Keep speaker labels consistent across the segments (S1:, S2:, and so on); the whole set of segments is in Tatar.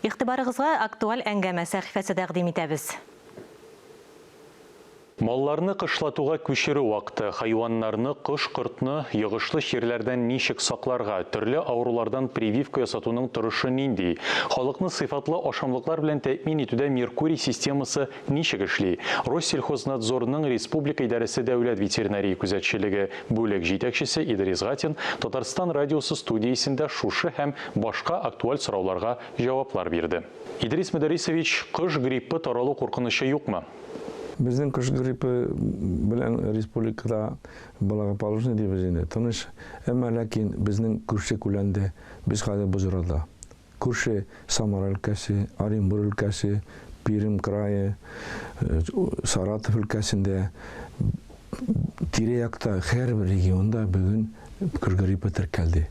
S1: Игътибарыгызга Актуаль әңгәмә сәхифәсе тәкъдим итәбез.
S2: Малларны кышлатуга күчерү вакыты, хайваннарны, кош-кортны, йогышлы чирләрдән ничек сакларга, төрле авырулардан прививка ясатуның торышы нинди, халыкны сыйфатлы ашамлыклар белән тәэмин итүдә Меркурий системасы Ничек эшли? Россельхознадзорның республика идарәсе дәүләт ветеринария күзәтчелеге бүлек җитәкчесе Идрис Гатин Татарстан радиосы студиясендә шушы һәм башка актуаль сорауларга җаваплар бирде. Идрис Мөдәрисович, кош гриппы таралу куркынычы юкмы? Безнең кош
S3: гриппы белән республикада благополучный дибез инде, тыныч. Әмма ләкин безнең күрше күләндә, без хәзер Боҗрада. Күрше Самара өлкәсе, Оренбур өлкәсе, Пермь крае, Саратов өлкәсендә, тирә-якта һәрбер регионда бүген гриппы теркәлде.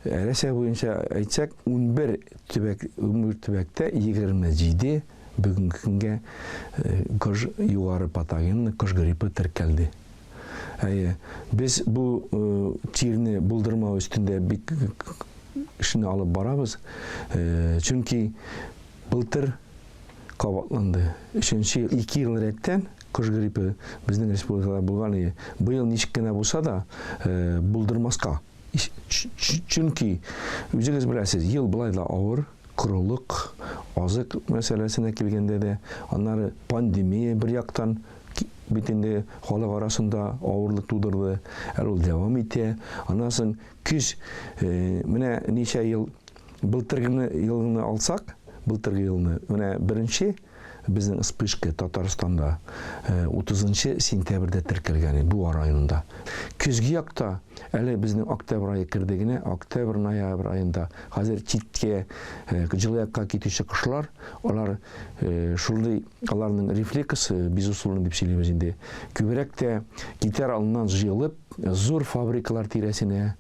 S3: Рәсәй буенча әйтсәк, унбер төбәк, унбер төбәктә егерме җиде Бүгенге көнгә кош югары патогенлы кош гриппы теркәлде. Әйе, без бу тирне булдырмау өстендә бик эшне алып барабыз. Чөнки былтыр кабатланды. Өченче ел, ике ел рәттән кош гриппы безнең республикада булган иде. Быел ничек кенә булса да, э, булдырмаска. Чөнки, үзегез беләсез, ел былай да авыр, Корылык, азык мәсьәләсенә килгәндә дә, аннары пандемия бер яктан бит инде халык арасында авырлык тудырды, әле ул дәвам итә. Аннан соң көз, менә ничә ел былтыргыны елны алсак, былтыргы елны, менә беренче Безнең вспышка Татарстанда утызынчы сентябрьдә теркәлгән иде, Буа районында. Көзге якта, әле безнең октябрь ае керде генә, октябрь-ноябрь аенда, хәзер читкә, җылы якка китүче кошлар, алар шундый, аларның рефлексы, безусловно дип сөйлибез инде, күбрәк тә китәр алдыннан җыелып, Зур фабрикалар тирәсенә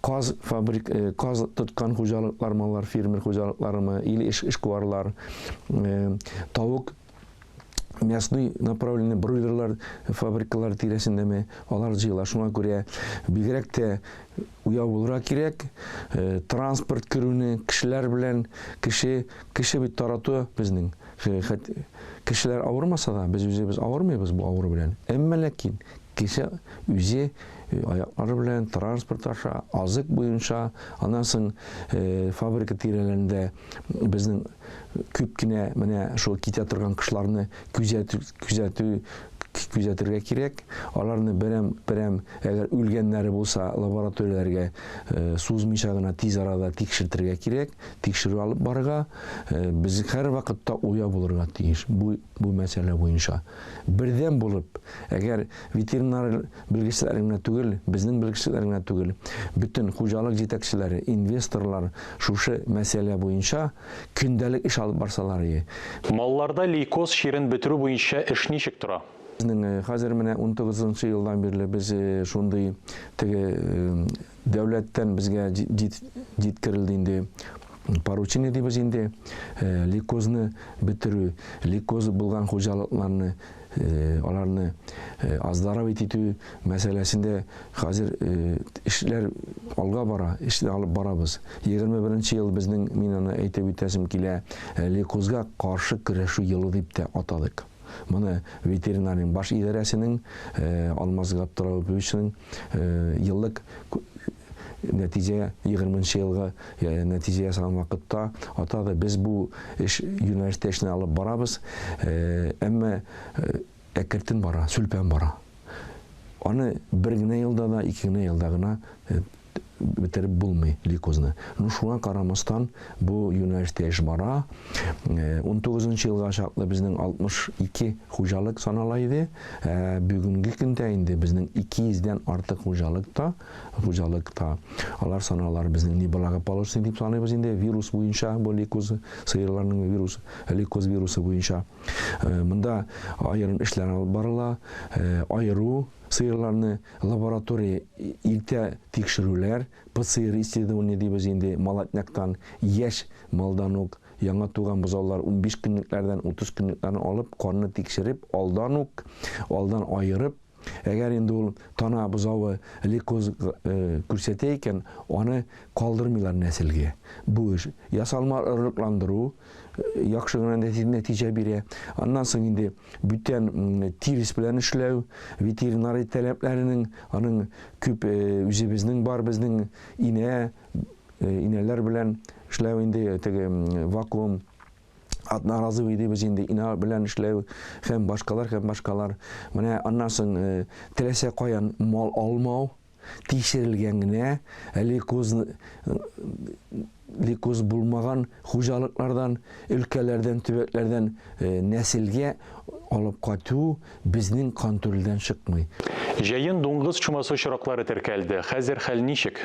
S3: каз фабрик каз тоткан хуҗалыклар маллар фермер хуҗалыкларымы или эшкуарлар тавык мясный направленный бройлерлар фабрикалар тирәсендәме алар җыела шуңа күрә бигрәк тә уяу булырга кирәк э, транспорт керүне кешеләр белән кеше кеше бит тарату безнең кешеләр авырмаса да без үзебез авырмыйбыз бу авыру белән әмма ләкин Кеше үзе аяклары белән транспорт аша, азык буенча, аннан соң фабрика тирәләрендә безнең күп кенә менә шул китә торган кышларны күзәтү, күзәтү, күзәтергә кирәк. Аларны берәм, берәм, әгәр үлгәннәре булса, лабораторияләргә сузмыйча гына тиз арада тикшертергә кирәк, тикшерү алып барырга. Без һәрвакытта уяу булырга тиеш. Бу Бу мәсьәлә буенча бердәм булып, әгәр ветеринар белгечләре генә түгел, безнең белгечләр генә түгел, бөтен хуҗалык җитәкчеләре, инвесторлар шушы мәсьәлә буенча көндәлек эш алып барсаларые. Малларда
S2: лейкоз чирен бетерү буенча эш ничек тора? Безнең хәзер менә
S3: унтугызынчы елдан бирле без шундый теге Дәүләттән безгә җиткерелде инде поручение дибез инде, лейкозны бетерү, лейкозы булган хуҗалыкларны аларны оздоровить итү мәсьәләсендә хәзер эшләр алга бара, эшне алып барабыз. 21 ел безнең мин аны әйтеп үтәсем килә, лейкозга каршы көрәшү елы дип тә атадык. Моны ветеринария баш идарәсенең Алмаз Габдрауповичның еллык нәтиҗә 20 нчы елгы нәтиҗә ясаган вакытта атады. Без бу эш юнәлештә эшне алып барабыз. Әмма әкертен бара, сүлпән бара. Аны бер генә елда да, ике генә елда гына бетереп булмый лейкозны. Ну шуңа карамастан бу юнәлештә эш бара. 19 э, елга чаклы безнең 62 хуҗалык санала иде. Э, бүгенге көндә инде безнең 200 дән артык хуҗалык та, хуҗалык та. Алар саналар безнең не благополучный дип саныйбыз инде вирус буенча бу лейкоз сыерларның вирусы, лейкоз вирусы буенча. Э, монда аерым эшләр алып барыла. Аеру Сыерларны лаборатория илтә тикшерүләр, ПЦР исследование дибез инде, молотняктан, яшь малдан ук, яңа туган бозаулар унбиш көнлекләрдән, утыз көнлекләрне алып, канны тикшереп, алдан ук, алдан аерып, әгәр инде ул тана бозавы лейкоз күрсәтә икән, аны калдырмыйлар нәселгә. Бу эш, ясалма орлыкландыру, яхшы гына нәтиҗә бирә. Аннан соң инде. бүтән тирес белән эшләү, ветеринарий таләпләренең, аның күп э, үзебезнең бар безнең инә, э, инәләр белән эшләү инде теге вакуум атна разы идебез инде ина белән эшләү һәм башкалар һәм башкалар менә аннан соң э, теләсә каян мал алмау тикшерелгән генә лейкоз лейкоз булмаган хуҗалыклардан, өлкәләрдән, төбәкләрдән нәселгә алып кайту безнең контрольдән чыкмый. Җәен дуңгыз
S2: чумасы очраклары теркәлде. Хәзер хәл ничек?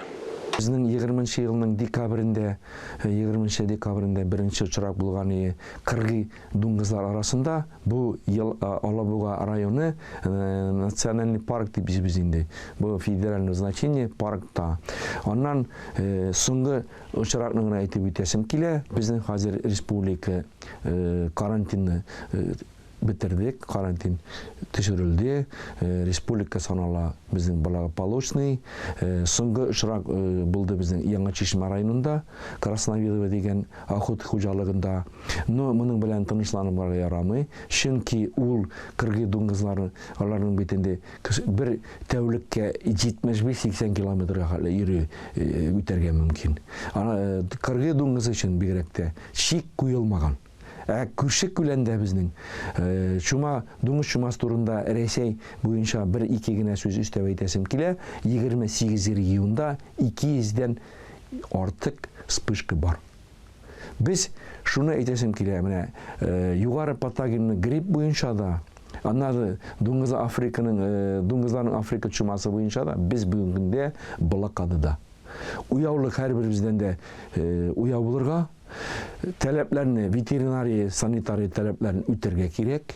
S2: Безнең егерме
S3: нче елның декабрендә, егерме нче декабрендә беренче очрак булган иде, кыргый Дуңгызлар арасында бу ел Алабуга районы национальный парк дип бизибез инде. Бу федеральное значение паркта. Аннан соңгы очракны гына әйтеп үтәсем килә. Безнең хәзер республика карантинны бетердек, карантин төшерелде, республика санала безнең благополучный. Соңгы очрак булды безнең Яңа Чишмә районында, Красновидово дигән ахут хуҗалыгында. Но моның белән тынычланырга ярамый, чөнки ул кыргый дуңгызлар, аларның бит инде бер тәүлеккә 75-80 километрга хәтле йөри үтәргә мөмкин. Кыргый дуңгыз өчен бигрәк тә чик куелмаган. Ә күрше күләндә безнең чума, дуңгыз чумасы турында Рәсәй буенча бер-ике генә сүз өстәп әйтәсем килә, 28 регионда 200 дән артык вспышка бар. Без шуны әйтәсем килә, менә югары патогенлы грипп буенча да, аннары дуңгыз Африканың дуңгызларның Африка чумасы буенча да без бүгенге көндә блокадада. Уяулык һәрберебездән дә уяу булырга, таләпләрне ветеринария, санитария таләпләрен үтәргә кирәк.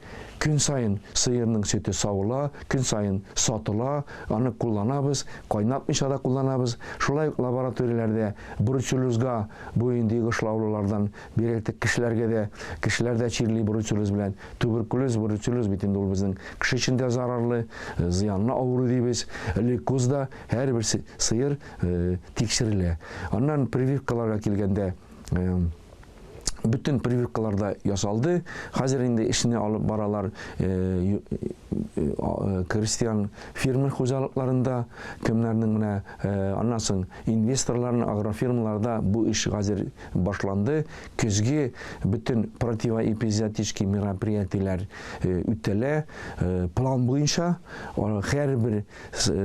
S3: Көн саен сыерның сөте савыла, көн саен сатыла, аны кулланабыз, кайнатмыйча да кулланабыз. Шулай ук лабораторияләрдә бруцеллезга буен дигышлаулылардан бирелтек кешеләргә дә, кешеләр дә чирли бруцеллез белән. Туберкулез, бруцеллез бит инде ул безнең кеше өчен дә зарарлы, зыянлы авыру дибез. Лейкоз да һәрбер сыер тикшерелә. Аннан прививкаларга килгәндә, бөтен прививкалар да ясалды. Хәзер инде эшне алып баралар э, э, э, крестьян фермер хуҗалыкларында, кемнәрнең менә аннан соң инвесторларның агрофирмаларда бу эш хәзер башланды. Көзге бөтен противоэпизиотический мероприятиеләр үтәлә. План буенча һәрбер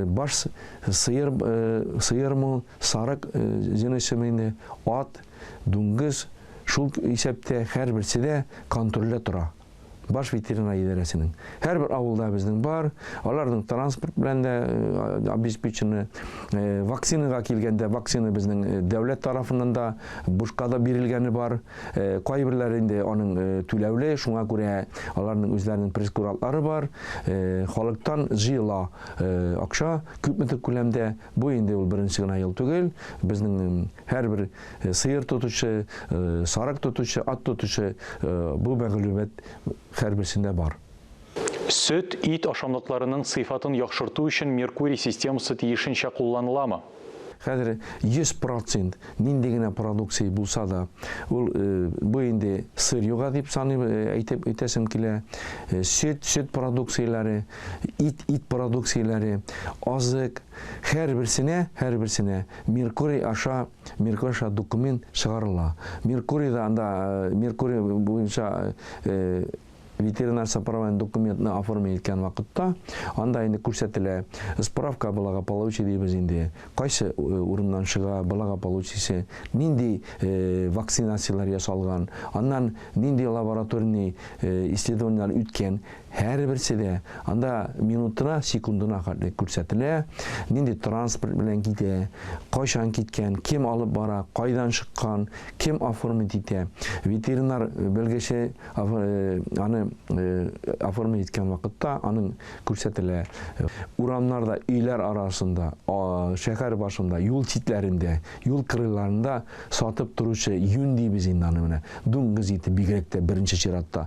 S3: баш сыер сыермы, сарык җенесеме, ат дуңгыз, шул исәптә һәрберсе дә контрольдә тора. Баш ветеринар идарәсенең. Һәрбер авылда безнең бар, аларның транспорт белән дә обеспечены. Вакцинага килгәндә, вакцина безнең дәүләт тарафыннан да бушка да бирелгәне бар. Кайберләре инде аның түләүле, шуңа күрә аларның үзләренең прескурантлары бар. Халыктан җыела акча, күпмедер күләмдә Бу инде ул беренче генә ел түгел. Безнең һәрбер сыер тотучы, сарык тотучы, ат тотучы бу мәгълүмат һәрберсендә бар. Сөт,
S2: ит ашамлыкларының сыйфатын яхшырту өчен Меркурий системасы тиешенчә кулланыламы? Хәзер
S3: 100 процент нинди генә продукция булса да, ул бу инде сыр юга дип саныйм, әйтеп әйтәсем килә. Сөт, сөт продукцияләре, Ит, ит продукцияләре, азык, һәрберсенә, һәрберсенә Меркурий аша, Меркурий аша документ чыгарыла. Меркурий да анда, э, Меркурий буенча э, ветеринар сопроводный документны оформить иткән вакытта, анда инде күрсәтелә, справка благополучия дибез инде, кайсы э, урыннан чыга благополучиесе, нинди э, вакцинацияләр ясалган, аннан нинди лабораторный э, исследованияләр үткән, Һәрберсе дә анда минутына, секундына хәтле күрсәтелә, нинди транспорт белән китә, кайчан киткән, кем алып бара, кайдан чыккан, кем оформить итә. Ветеринар белгече аны оформить иткән вакытта аның күрсәтелә. Урамнарда, өйләр арасында, шәһәр башында, юл читләрендә, юл кырыйларында сатып торучы юн дибез инде аны менә. Дуңгыз ите бигрәк тә беренче чиратта.